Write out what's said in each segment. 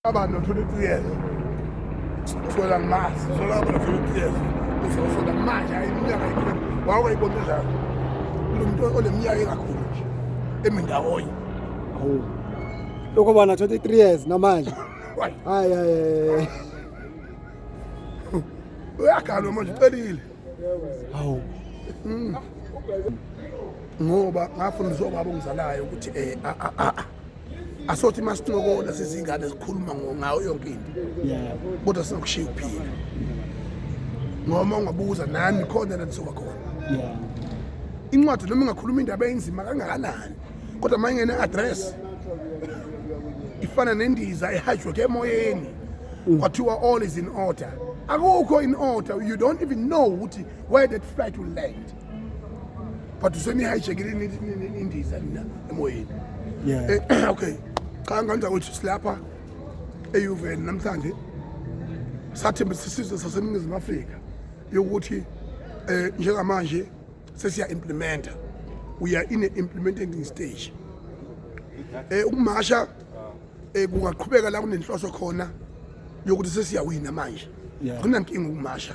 Abantu bathola iciyeza. Usola ngimazi, usola abantu bathola iciyeza. Usola manje hayi iminyaka ikho. Wawayibona njalo. Lo muntu oleminyaka engakhulu nje emindawonye. Hawu. Lokho bana 23 years namanje. Hayi. Hayi hayi. Uyagalwa manje ucelile. Hawu. Mm. ngoba ngafundiswa ubaba ongizalayo ukuthi um asothi uma sincokola sizingane zikhuluma ngayo yonke into kodwa sinokushiya ukuphila ngoma ungabuza nami khona la ndisuka khona incwadi noma ingakhuluma indaba enzima kangakanani kodwa uma ingene address ifana nendiza ehajwe ke emoyeni mm. kwathiwa all is in order akukho in order you don't even know ukuthi where that flight will land but usenihijackile indiza nina emoyeni eh, okay cha ngenza ukuthi silapha eUVN namhlanje sathembisa isizwe saseningizimu Afrika yokuthi eh njengamanje sesiya implementer we are in a implementing stage eh ukumasha eh kungaqhubeka la kunenhloso khona yokuthi sesiyawina manje akunankinga ukumasha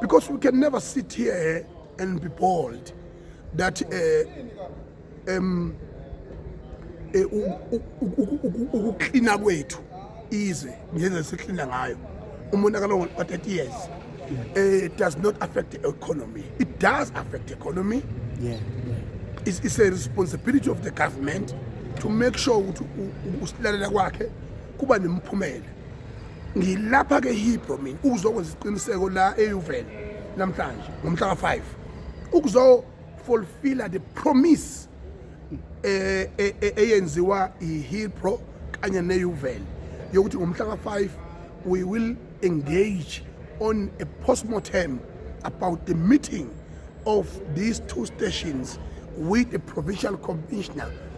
Because we can never sit here and be bold that uh, um, eh, ukuklina kwethu izwe ngendlela siklina ngayo umonakalo wa-30 years eh, it does not affect the economy it does affect the economy yeah, yeah. It's, it's a responsibility of the government to make sure ukuthi usilalela kwakhe kuba nemiphumela ngilapha ke hibro mina ukuzokwenza isiqiniseko la eUven namhlanje ngomhla ka5 ukuzo fulfilla the promise eh, eh, eh eyenziwa iHilpro kanye neUven yokuthi ngomhla ka5 we will engage on a postmortem about the meeting of these two stations with the provincial commissioner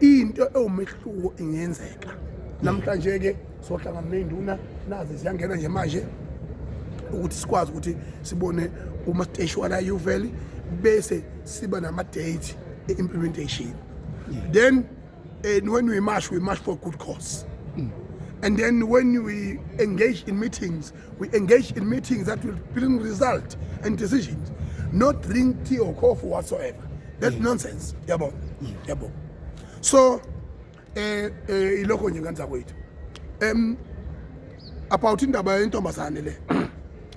into ewumehluko ingenzeka namhlanje-ke sohlangana ney'nduna nazi ziyangena nje manje ukuthi sikwazi ukuthi sibone uma siteshi wala uveli bese siba nama-date e-implementation then and eh, when we march we march for good cause mm. and then when we engage in meetings We engage in meetings that will bring result and decisions, not drink tea or coffee whatsoever. That's yeah. nonsense. Yabo. Yeah. Yabo. So eh eh ilokho nje nganza kwethu. Em about indaba yentombazane le.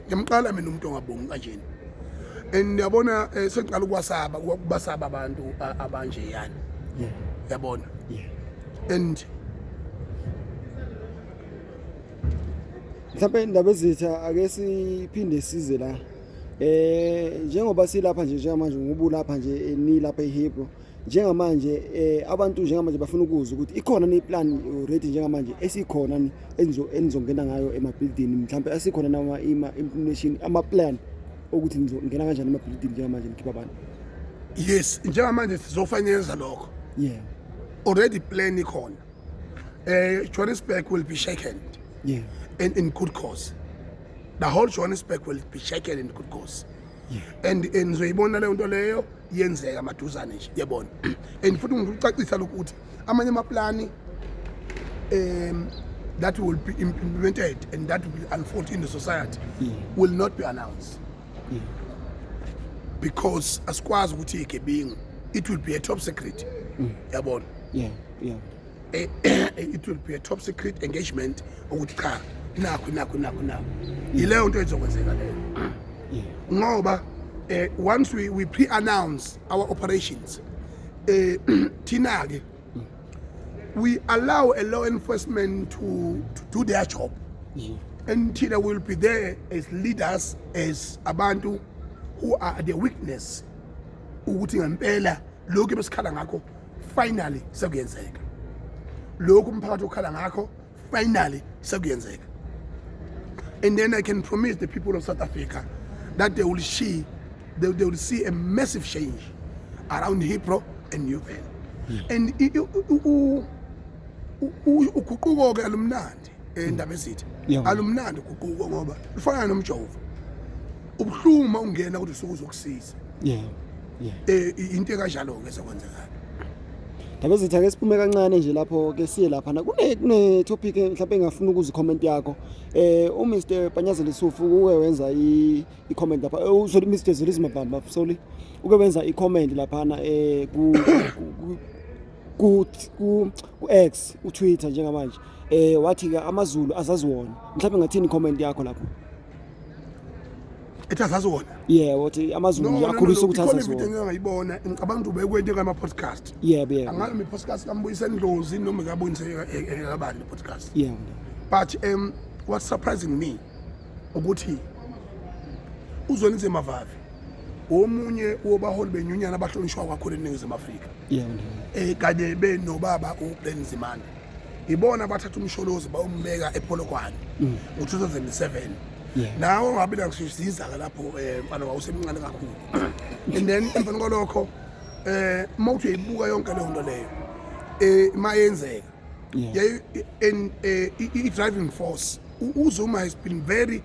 Ngimqala mina umuntu ongabongi kanjena. And yabona eh, sengiqala ukwasaba ukubasaba abantu abanje yani. Yeah. Yabona. Yeah. And mhlawumbe indaba ezitha ake siphinde size la eh njengoba silapha nje njengamanje ngubulapha nje eh, nilapha eHebrew njengamanje eh abantu njengamanje bafuna ukuzwa ukuthi ikhona ni plan already njengamanje esikhona ni enzo enizongena ngayo ema building mhlawumbe asikhona nama ima information ama plan ukuthi nizongena kanjani ema building njengamanje nikhipha abantu yes njengamanje sizofanyenza lokho yeah already plan ikhona Uh, Johannesburg will be shaken. Yeah. And in good cause. The whole Johannesburg will be shaken in good cause. Yeah. And nizoyibona leyo nto leyo yenzeka maduzane nje yebona and futhi ngikucacisa lokhu ukuthi amanye amaplani um that will be implemented and that will unfold in the society yeah. will not be announced yeah. because asikwazi ukuthi igebingu it will be a top secret mm. yabona yeah. yeah. Eh, it will be a top secret engagement ukuthi cha nakho nakho nakho nakho yileyo nto ezokwenzeka leyo ngoba eh, once we, we pre-announce our operations eh, thina ke we allow a law enforcement to, to do their job yeah. and Tina will be there as leaders as abantu who are the witness ukuthi ngempela lokhu besikhala ngakho finally sekuyenzeka lokhu umphakathi okhala ngakho finally sekuyenzeka and then i can promise the people of south africa that they will see they, they will see a massive change around hipro and uven and uguquko-ke alumnandi endaba ezitha alumnandi uguquko ngoba lufana nomjovo ubuhlungu uma ungena kodwa usuke uzokusiza yeah yeah eh into ekanjalo ke ezokwenzekala Ndaba ezitha ke siphume kancane nje lapho ke siye lapha na kune kune topic mhlawumbe engafuna ukuzi comment yakho eh u Mr Panyazeli Sufu uke wenza i i comment lapha eh, uzoli Mr Zolizima Bamba sorry uke wenza i comment lapha na eh ku ku ku X u Twitter njengamanje eh wathi ke amaZulu azazi wona mhlawumbe ngathini comment yakho lapho ethi azazi wona yeah wathi amaZulu akhulisa ukuthi azazi wona ikhona ngiyibona ngicabanga ukuthi ubekwente ngama podcast yebo yebo angazi mi podcast kambuyisa ndlozi noma kabonise ekabani podcast yeah but um what surprising me ukuthi uzwelise mavavi omunye wobaholi benyunyana abahlonishwa kakhulu eningizimu afrika yebo eh kanye be nobaba uBen Zimane ibona bathatha umsholozi bawumbeka ePolokwane mm. ngo2007 nawo ngabe ngisizisa lapho eh mfana wawusemncane kakhulu and then emva kwalokho eh uma uthi uyibuka yonke leyo nto leyo eh mayenzeka yeah. in uh, driving force uzuma has been very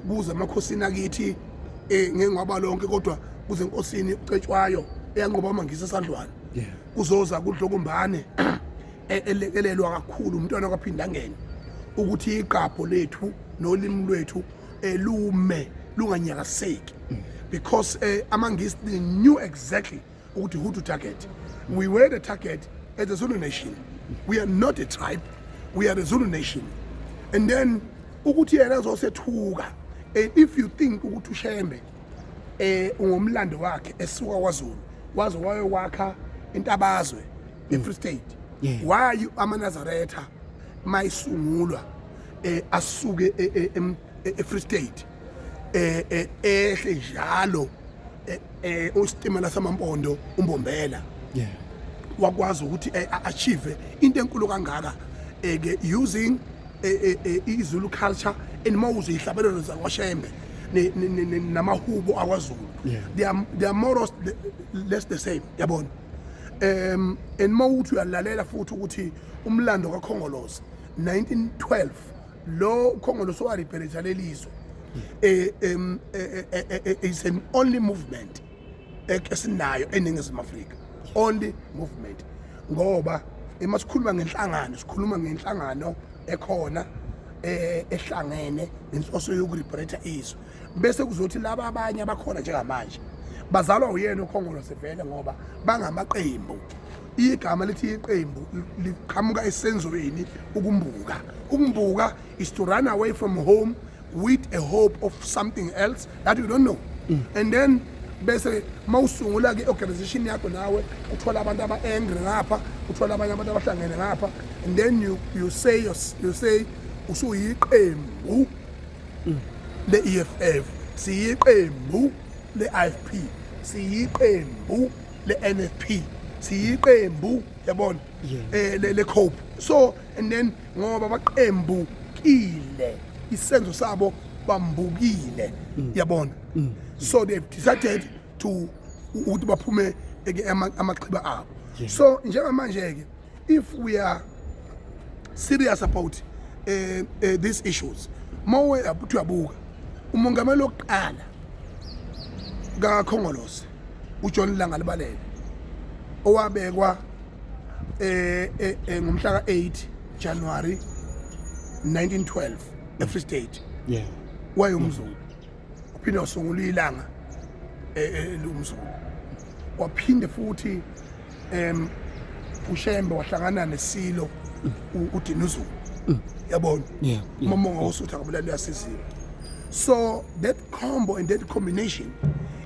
kubuza amakhosini akithi eh ngengwaba lonke kodwa kuze enkosini ucetshwayo eyanqoba amangisa esandlwana kuzoza kudlokumbane e-, elekelelwa kakhulu umntwana kwaphindangene ukuthi iqapho lethu nolimi lwethu elume eh, lunganyakaseki mm. because eh, amangisi they knew exactly ukuthi who to target we were the target as a zulu nation we are not a tribe we are a zulu nation and then ukuthi yena azosethuka eh, if you think ukuthi ushembe eh ungomlando wakhe esuka kwaZulu waze wayowakha intabazwe eFree mm. State why amanazaretha mayisungulwa eh asuke eFree e, e, e, State eh, eh ehle njalo eh, eh usitimela samampondo umbombela yeah wakwazi ukuthi eh, achieve into enkulu kangaka eh, ke using eh, eh, izulu culture and mawuze ihlabelelo zakwashembe namahubo akwaZulu they are they are more or less the same yabona um and mawuthi uyalalela futhi ukuthi umlando kaKhongolose 1912 lo ukhongolose waribhelesha lelizwe eh, em, eh, eh, eh, eh, is an only movement ek- esinayo eningizimu afrika only movement ngoba uma sikhuluma ngenhlangano sikhuluma ngenhlangano ekhona eh, ehlangene nenhloso yokuribhelesha izwe bese kuzothi laba abanye abakhona njengamanje bazalwa uyena ukhongolose vele ngoba bangamaqembu Igama lithi iqembu liqhamuka esenzweni ukumbuka. Ukumbuka is to run away from home with a hope of something else that you don't know. Mm. And then bese mawusungula ke organization yakho nawe uthola abantu aba angry ngapha uthola abanye abantu abahlangene ngapha and then you you say you, you say usuyiqembu mm. le EFF siyiqembu le IFP siyiqembu le-nfp siyiqembu yabona eh le cope so and then ngoba baqembu kile isenzo sabo bambukile mm. yabona mm. so they decided to ukuthi baphume eke amaxhiba abo so njengamanje ke if we are serious about uh, uh, these issues mawe ukuthi uyabuka umongameli wokuqala kakhongolose ujohn langa libalele owabekwa eh, eh, eh ngomhla ka-8 january 1912 efree state yeah wayomzulu uphinde wasungula ilanga e, e, elumzulu waphinde futhi em ushembe wahlangana nesilo udinuzulu yabona umamonga wosutha kabulala uyasizila so that combo and that combination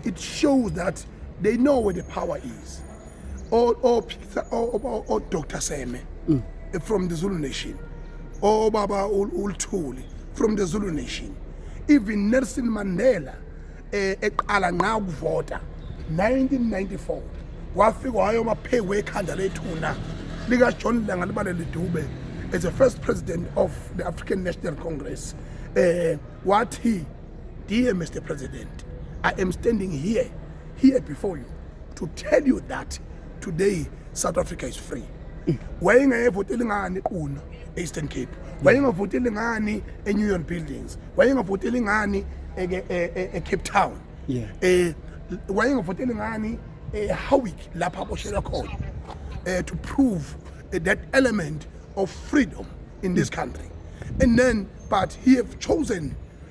it shows that they know where the power is o o Peter o o- o Dr Seme Mm. eh, from the Zulu Nation o baba u- uLthuli from the Zulu Nation even Nelson Mandela eh, eqala nqa ukuvota 1994 wafika wayo maphekwe ekhanda lethuna lika John Langa libalele Dube as the first president of the African National Congress eh wathi dear Mr President I am standing here here before you to tell you that today South Africa is free. Wayengayevoteli ngani kuno Eastern Cape. Wayengavoteli ngani eNew Buildings. Wayengavoteli ngani eCape Town. Yeah. Eh wayengavoteli ngani eHowick lapha boshelwa khona. Eh to prove eh, that element of freedom in this country. And then but he have chosen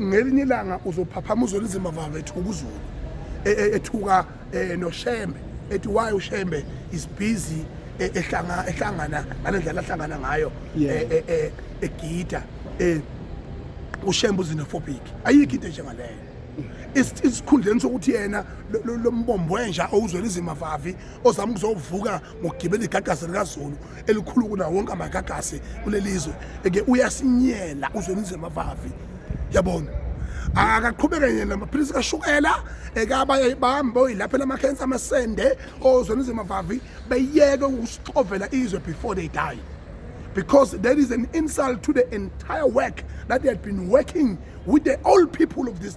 ngelinye ilanga uzophaphama uzona izima vava ethuka uzulu e, e, ethuka e, noshembe ethi why ushembe is busy ehlanga ehlangana ngalendlela ahlangana ngayo egida ushembe uzinophobic ayikho into njengaleyo isikhundleni sokuthi yena lombombo wenja owuzwela izimavavi ozama ukuzovuka ngokugibela igagasi likazulu elikhulu kunawo wonke amagagasi kuleli zwe eke uyasinyela uzwenizwe mavavi yabona akaqhubeke yena namaphilisi kashukela ekabanye bahambe oyilaphe lamakhensa amasende ozwenizwe mavavi beyeke ukusixovela izwe before they die because that is an insult to the entire work that they had been working with the old people of this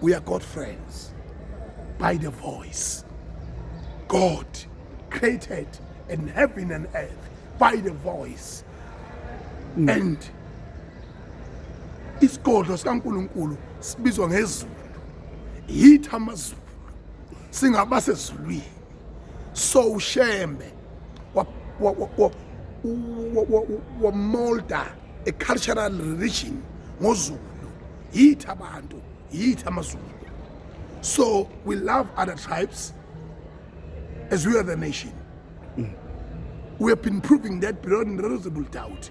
we are God friends by the voice. God created in heaven and earth by the voice. Mm. And isigodlo sikaNkulunkulu sibizwa ngezulu. Yithi amazulu. Singaba sezulwini. So ushembe wa wa wa wa molda a cultural religion ngozulu yithi abantu yithi amazulu so we love other tribes as we are the nation mm. we have been proving that beyond reasonable doubt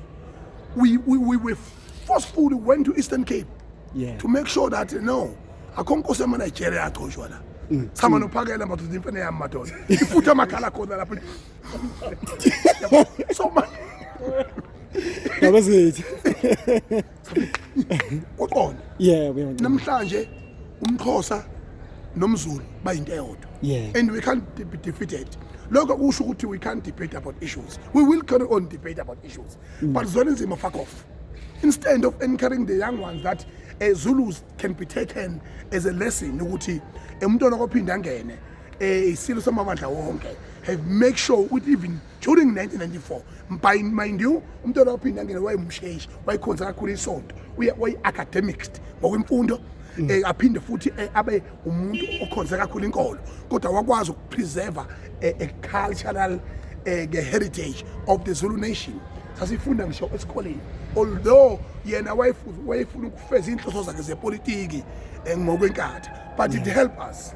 we, we, we were forcefully went to eastern cape yeah. to make sure that no akho nkosi yamanigeria agcoshwa la mm. sama mm. nophakela madoda imfene yami madoda ifutha amakhala khona lapho so manje That was it. uqonda yebo yebo namhlanje umxhosa nomzulu bayinto eyodwa Yeah. and we can't de- be defeated lokho kusho ukuthi we can't debate about issues we will carry on debate about issues Mm. but zona nzima fuck off instead of encouraging the young ones that uh, zulus can be taken as a lesson ukuthi eh, umntwana kophinde angene um isilo samabandla wonke have make sure ukuthi even during 1994 mbayi mind you umntwana waphinde angene wayemsheshi wayikhonza kakhulu isonto wayi-academics ngokwemfundo um aphinde futhi eh, abe umuntu okhonze kakhulu inkolo kodwa wakwazi ukupreserve eh, a cultural ke heritage of the Zulu nation sasifunda ngisho esikoleni although yena wayefuna ukufeza inhloso zakhe zepolitiki ngokwenkatha but it help us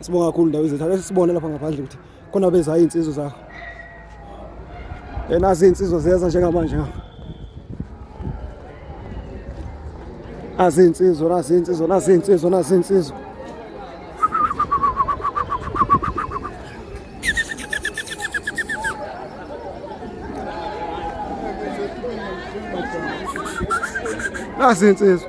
Sibonga kakhulu ndawo izethu. Ake sibone lapha ngaphandle ukuthi khona beza insizwa zakho. Yena izinsizwa ziyeza njengamanje ngapha. Azinsizwa, azinsizwa, azinsizwa, azinsizwa. Azinsizwa.